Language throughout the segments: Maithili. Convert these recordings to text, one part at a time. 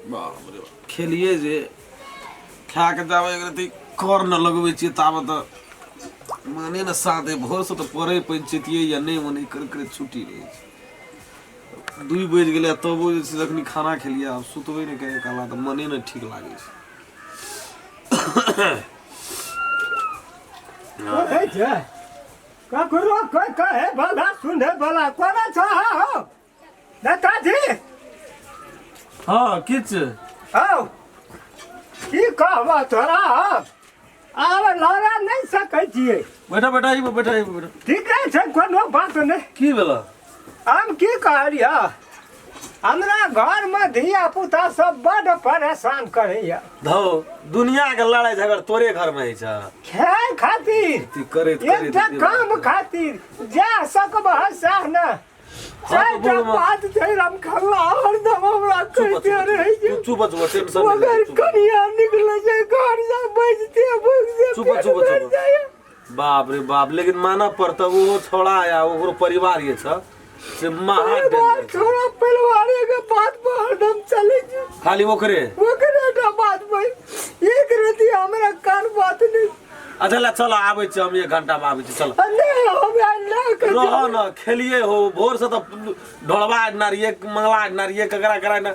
बाप रे बाप। खेलिए जे खा के जाबे एक रति कर न लगबै छियै ताबे तऽ माने न साथे भोरसँ तऽ पढ़ै पंचैतियै या नहि मने करैत करैत छुट्टी रहै छै दुइ बजि गेलै आ तबो जे छै से एखन खाना खेलियै आब सुतबै नहि कहियो काला तऽ मने नहि ठीक लागै छै ककरो कोई कहे वाला सुने वाला कोन छ हो नेताजी हाँ किच हौ की कहब तोरा हम आब लड़ा नहीं सकै छियै बैठा बैठा ई बैठा ई बैठा ठीके छै कोनो बात नहि की भेला हम की कहलिय हमरा घर में धिया पुता सब बड परेशान करैया धौ दुनिया के लड़ाई झगड़ तोरे घर में है छ खेल खातिर ती करैत एक करैत टा काम खातिर जा सकब सह न चार टा बोलबा। बात छै राम खल्ला हरदम हमरा कहते रहे छै चुप चुप टेंशन मगर कनिया निकले छै घर से बजते भुगते चुप, पेट चुप, भर चुप। जाइया। बाप रे बाप लेकिन मानऽ पड़तऽ ओहो छौड़ा या ओकरो परिवार जे छऽ से महा बार डेंजर छौ। छोड़ा परिवारे के बात पर हरदम चले छी खाली ओकरे ओकरे टा बात पर एक रति हमरा कान बात नहीं अच्छा ला चल आबै छी हम एक घंटा में आबै छी चल आ नहीं हम यार ना कर रह न खेलिए हो भोर से तो ढोलवा आडना रहिए मंगला आडना रहिए ककरा करा ना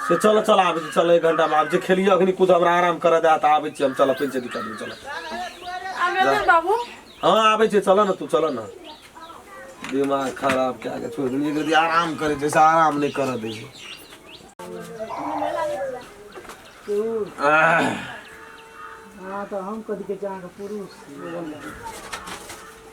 से चलऽ चल आबै छी चल एक घण्टा मे आबै छै खेलियौ अखनी कुद हमरा आराम करऽ दए तऽ आबै छी हम चलऽ कोइ छै दिक्कत नहि चलऽ आब एबै बाबू हँ आबै छै चलऽ ने तू चलऽ ने दिमाग खराब कए कऽ छोड़ि देलियै यदि आराम करै छै से आराम नहि करऽ दै छै आह, हँ तऽ हम कथी कहै छी अहाँके पुरुष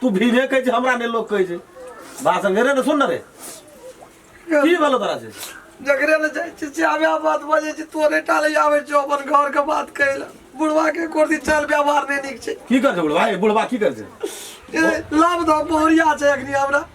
तू भीमे कहै छै हमरा नहि लोक कहै छै भाषण रे ने सुन ने रे की भेलो तोरा से जकरे ले जाइ छी से आबे बात बजै छी तोरे टा ले आबै छौ अपन घर के बात कहै लए बुढ़वा के कोर्दी चाल व्यवहार नहि नीक छै की कर छै बुढ़वा ए, बुढ़वा की कर छै ए, लाभ दऽ पहरिया छै एखनी हमरा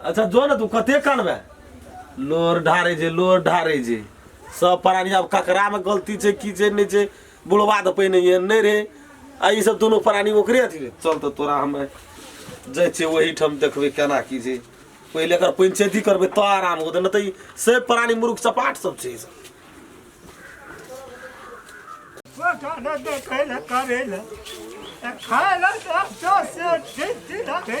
अच्छा जो ने तू कते कानबे लोर ढारे जे लोर ढारे जे सब प्राणी आब ककरा में गलती छै की छै नहि छै बुढ़वा तऽ पहिने ये नहि रहे आ ई सब दुनू प्राणी ओकरे अथी रहे। चल तऽ तोरा हम जाइ छियै ओही ठाम देखबै केना की छै पहिले एकर पंचायती करबै तऽ आराम होतै नहि तऽ ई से प्राणी मुरुख चपाट सब छै ई सब गोटाने देखै लए करै लए खाय लए तऽ से से ठीक ठीक रखै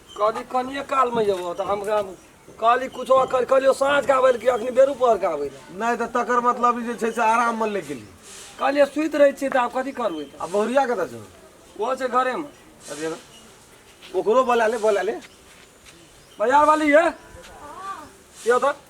कहली कनिए कालमे जेबो तऽ हम गाम कहली कुछो कर कहलियो साँझ के आबै लए कि अखनी बेरू पहर के आबै लए नहि तऽ तकर मतलब ई जे छै से आराममे लए गेली कहलिए सुति रहै छियै तऽ आब कथी करबै तऽ आ बहुरिया कतऽ छौ ओहो छै घरेमे अरे ना। ओकरो बोला ले बोला ले बाजार वाली है यो तऽ